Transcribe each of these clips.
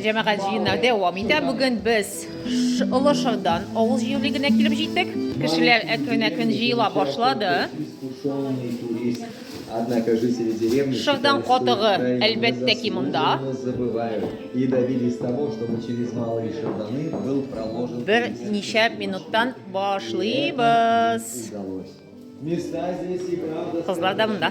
Җәмәгать җыеннар дәвам итә. Бүген без Олы Шырдан авыл җирлегенә килеп җиттек. Кешеләр әкрен-әкрен җыела башлады. Шырдан катыгы, әлбәттә ки, монда. Бер ничә минуттан башлыйбыз. Кызлар да монда.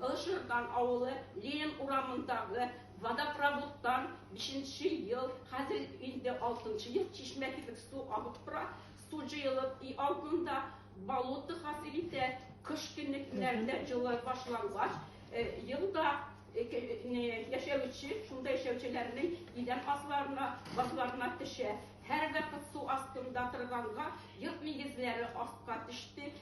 Олы Шырдан авылы Ленин урамындагы водопроводтан бишенче ел, хәзер инде алтынчы ел чишмә кебек су агып тора. Су җыелып өй алдында болото хасил итә. Кыш көне кинәрдә җылы башлангач, елда яшәүче, шунда яшәүчеләрнең идән асларына, башларына төшә. Һәрвакыт су астында торганга, йорт нигезләре астка төште,